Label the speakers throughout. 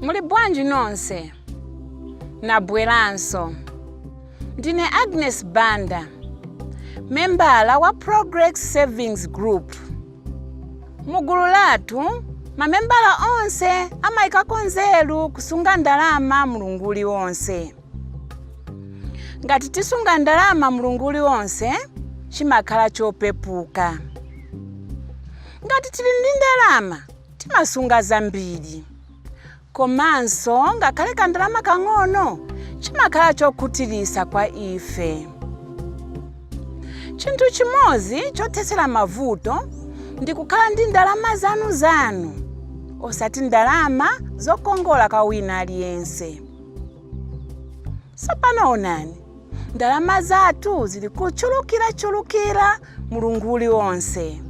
Speaker 1: Muli bwanji nonse? Nabweranso. Ndine Agnes Banda, membala wa Progress Savings Group. Mu gulu lathu, mamembala onse amaikako nzeru kusunga ndalama mlungu uliwonse. Ngati tisunga ndalama mlungu uliwonse, chimakhala chopepuka. Ngati tili ndi ndalama, timasunga zambiri komanso ngakhale kandalama kang'ono chimakhala chokhutiritsa kwa ife chinthu chimodzi chothetsera mavuto ndi kukhala ndi ndalama zanu zanu osati ndalama zokongola kwa wina aliyense tsopano onani ndalama zathu zili kuchulukirachulukira mulungu uliwonse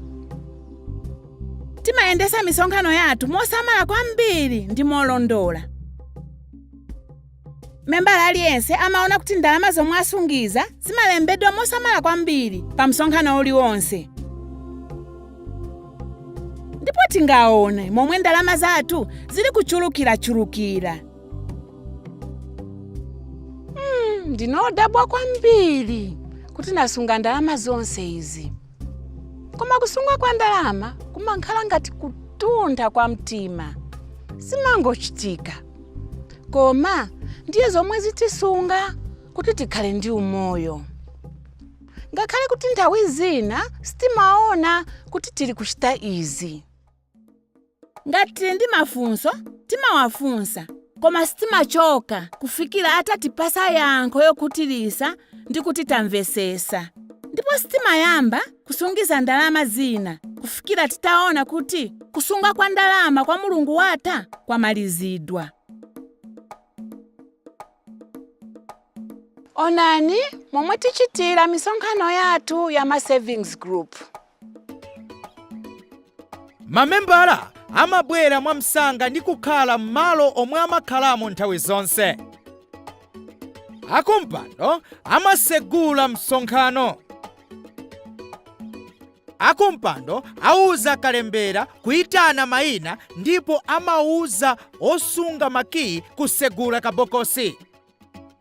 Speaker 1: timayendesa misonkhano yathu mosamala kwambiri ndi molondola membala aliyense amaona kuti ndalama zomwe asungiza zimalembedwa mosamala kwambiri pa msonkhano uliwonse ndipo tingaone momwe ndalama zathu zili kuchulukirachulukira ndinodabwa kwambiri kuti nasunga ndalama zonse izi koma kusunga kwa ndalama kumakhala ngati kutuntha kwa mtima zimangochitika koma ndiye zomwe zitisunga kuti tikhale ndi umoyo ngakhale kuti nthawi zina sitimaona kuti tili kuchita izi ngati tili ndi mafunso timawafunsa koma sitimachoka kufikira atatipasa yankho yokhutirisa ndi kuti tamvesesa ndipo sitimayamba kusungiza ndalama zina kufikira titaona kuti kusunga kwa ndalama kwa mulungu watha kwamalizidwa onani momwe tichitira misonkhano yathu ya ma savings group
Speaker 2: mamembala amabwera mwamsanga ndi kukhala m'malo omwe amakhalamo nthawi zonse akumpando amasegula msonkhano akumpando auza kalembera kuyitana mayina ndipo amauza osunga makiyi kusegula kabokosi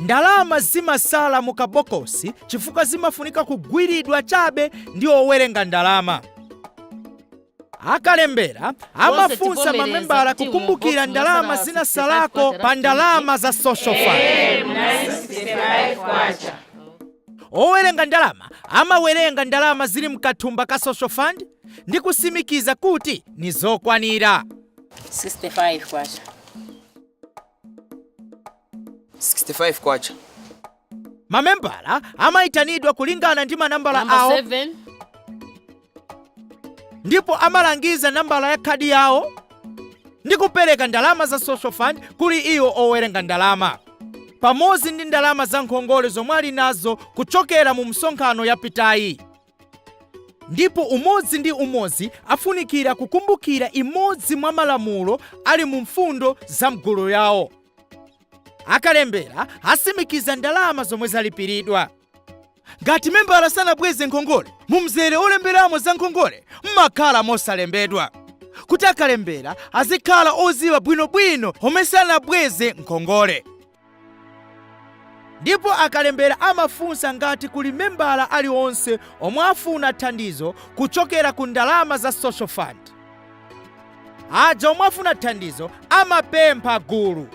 Speaker 2: Ndalama zimasala mu kabokosi chifukwa zimafunika kugwiridwa chabe ndi owerenga ndalama. Akalembera amafunsa mamembala kukumbukira ndalama zinasalako pa ndalama za social fund. Owerenga ndalama amawerenga ndalama zili mkathumba ka social fund ndi kusimikiza kuti ni zokwanira. 65
Speaker 3: kwacha.
Speaker 4: 65
Speaker 2: kwacha mamembala amayitanidwa kulingana ndi manambala awo Number seven ndipo amalangiza nambala ya khadi yawo ndi kupereka ndalama za social fund kuli iwo owerenga ndalama pamodzi ndi ndalama za nkhongole zomwe ali nazo kuchokera mu msonkhano yapitayi ndipo umodzi ndi umodzi afunikira kukumbukira imodzi mwa malamulo ali mu mfundo za mgulu yawo. Akalembera asimikiza ndalama zomwe zalipiridwa. Ngati membala sanabweze nkhongole, mu mzere olemberamo za nkhongole mumakhala mosalembedwa kuti akalembera azikhala oziwa bwinobwino omwe sanabweze nkhongole. ndipo akalembera amafunsa ngati kuli membala alionse omwe afuna thandizo kuchokera ku ndalama za social fund. Aja omwe afuna thandizo amapempha gulu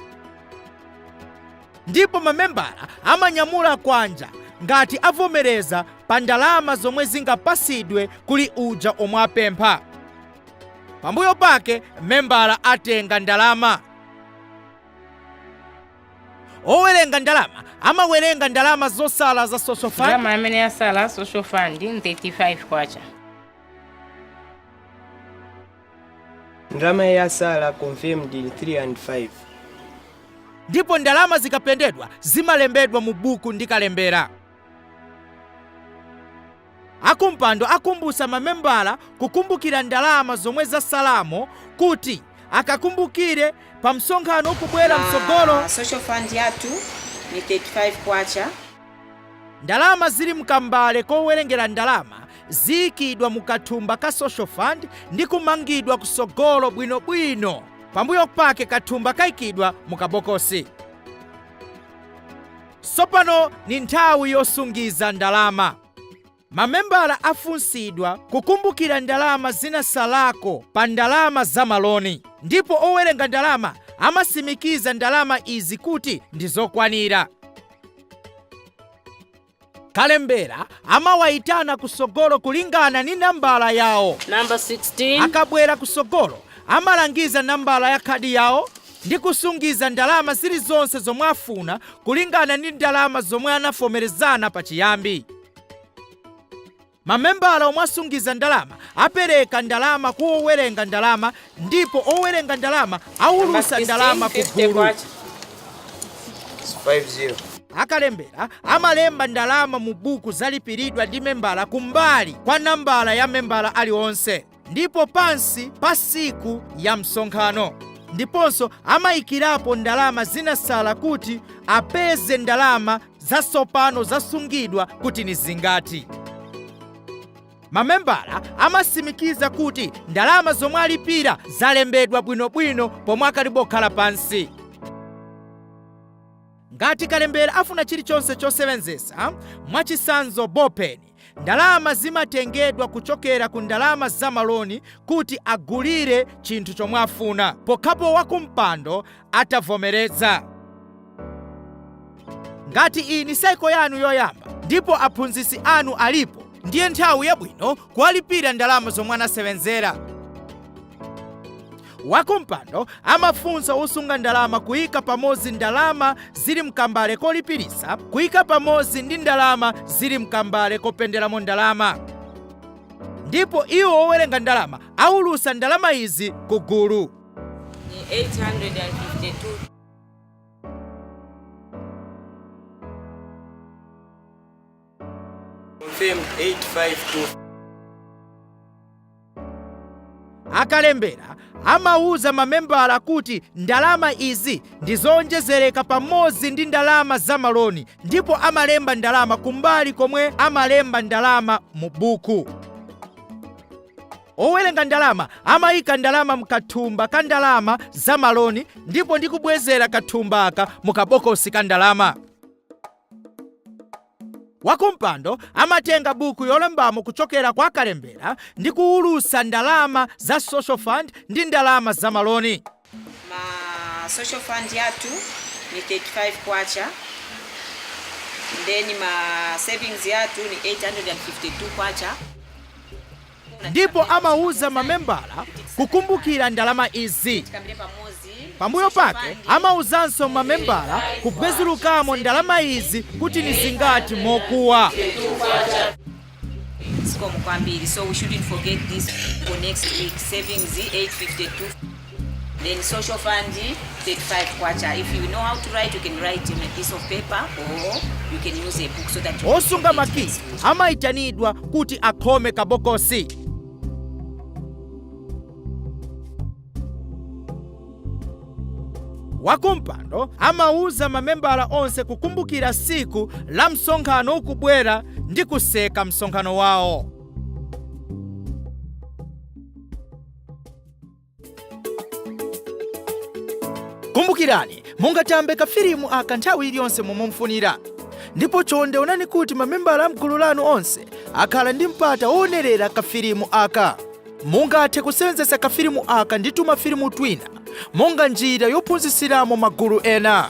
Speaker 2: ndipo mamembala amanyamula kwanja ngati avomereza pa ndalama zomwe zingapasidwe kuli uja omwe apempha. Pambuyo pake membala atenga ndalama. owerenga ndalama amawerenga ndalama zosala za social fund ndalama amene yasala
Speaker 3: social fund ndi 35 kwacha
Speaker 4: ndalama yasala confirmed 305
Speaker 2: ndipo ndalama zikapendedwa zimalembedwa mu buku ndi kalembera Akumpando akumbusa mamembala kukumbukira ndalama zomwe zasalamo kuti akakumbukire pamsonkhano ukubwera mtsogolo. Social fund yathu
Speaker 5: ni K35.
Speaker 2: Ndalama zili mkambale kowerengera ndalama ziikidwa mu kathumba ka social fund ndi kumangidwa kusogolo bwino bwino. Pambuyo pake kathumba kaikidwa mu kabokosi. Tsopano ni nthawi yosungiza ndalama. Mamembala afunsidwa kukumbukila ndalama zinasalako pa ndalama za maloni, ndipo owelenga ndalama amasimikiza ndalama izi kuti ndi zokwanila. Kalembela amawaitana kusogolo kulingana ni nambala yawo. Number 16.
Speaker 3: Akabwela kusogolo
Speaker 2: amalangiza nambala ya khadi yawo ndi kusungiza ndalama zili zonse zomwe afuna kulingana ndi ndalama zomwe anavomerezana pa chiyambi. Mamembala omwe asungiza ndalama apereka ndalama ku owerenga ndalama ndipo owerenga ndalama awulusa ndalama ku gulu.
Speaker 4: Akalembera
Speaker 2: amalemba ndalama mu buku zalipiridwa ndi membala kumbali kwa nambala ya membala alionse. ndipo pansi pa siku ya msonkhano ndiponso amayikirapo ndalama zinasala kuti apeze ndalama zasopano zasungidwa kuti ni zingati mamembala amasimikiza kuti ndalama zomwe alipira zalembedwa bwinobwino pomwe akalibokhala pansi ngati kalembera afuna chilichonse chosewenzesa mwachisanzo bopeni Ndalama zimatengedwa kuchokera ku ndalama za maloni kuti agulire chinthu chomwe afuna, pokhapo wakumpando atavomereza. Ngati iyi ni saiko yanu yoyamba ndipo aphunzitsi anu alipo, ndiye nthawi yabwino kuwalipira ndalama zomwe anasewenzera. wakumpando amafunsa osunga ndalama kuyika pamodzi ndalama zili mkambale kolipilisa kuyika pamodzi ndi ndalama zili mkambale kopenderamo ndalama ndipo iwo owerenga ndalama awulusa ndalama izi ku gulu ni 852 Thank you. Confirmed 852. akalembera amauza mamembala kuti ndalama izi ndi zoonjezereka pamodzi ndi ndalama za maloni ndipo amalemba ndalama kumbali komwe amalemba ndalama mu buku owerenga ndalama amayika ndalama mukathumba ka ndalama za maloni ndipo ndikubwezera kathumbaka mukabokosi ka ndalama Wakumpando amatenga buku yolembamo kuchokera kwa kalembera ndi kuwulusa ndalama za social fund ndi ndalama za maloni.
Speaker 5: Ma social fund yathu ni 35 kwacha then ma savings yathu ni 852 kwacha.
Speaker 2: ndipo amauza mamembala kukumbukira ndalama izi. Pambuyo pake amauzanso mamembala kubwezulukamo ndalama izi kuti ni zingati mokuwa. Zikomo
Speaker 5: kwambiri. So we shouldn't forget this for next week. Savings 852. Then social fund, K35. If you know how to write, you can write on a piece of paper or you can use a book so that you Osunga makiyi
Speaker 2: amayitanidwa kuti akhome kabokosi. Wakumpando amauza mamembala onse kukumbukira siku la msonkhano ukubwera ndi kutseka msonkhano wawo. kumbukirani mungatambe kafilimu aka nthawi iliyonse momufunira ndipo chonde onani kuti mamembala amgulu lanu onse akhala ndi mpata woonerera kafilimu aka mungathe kusewenzetsa kafilimu aka ndi tumafilimu twina monga njira yophunzitsiramo magulu ena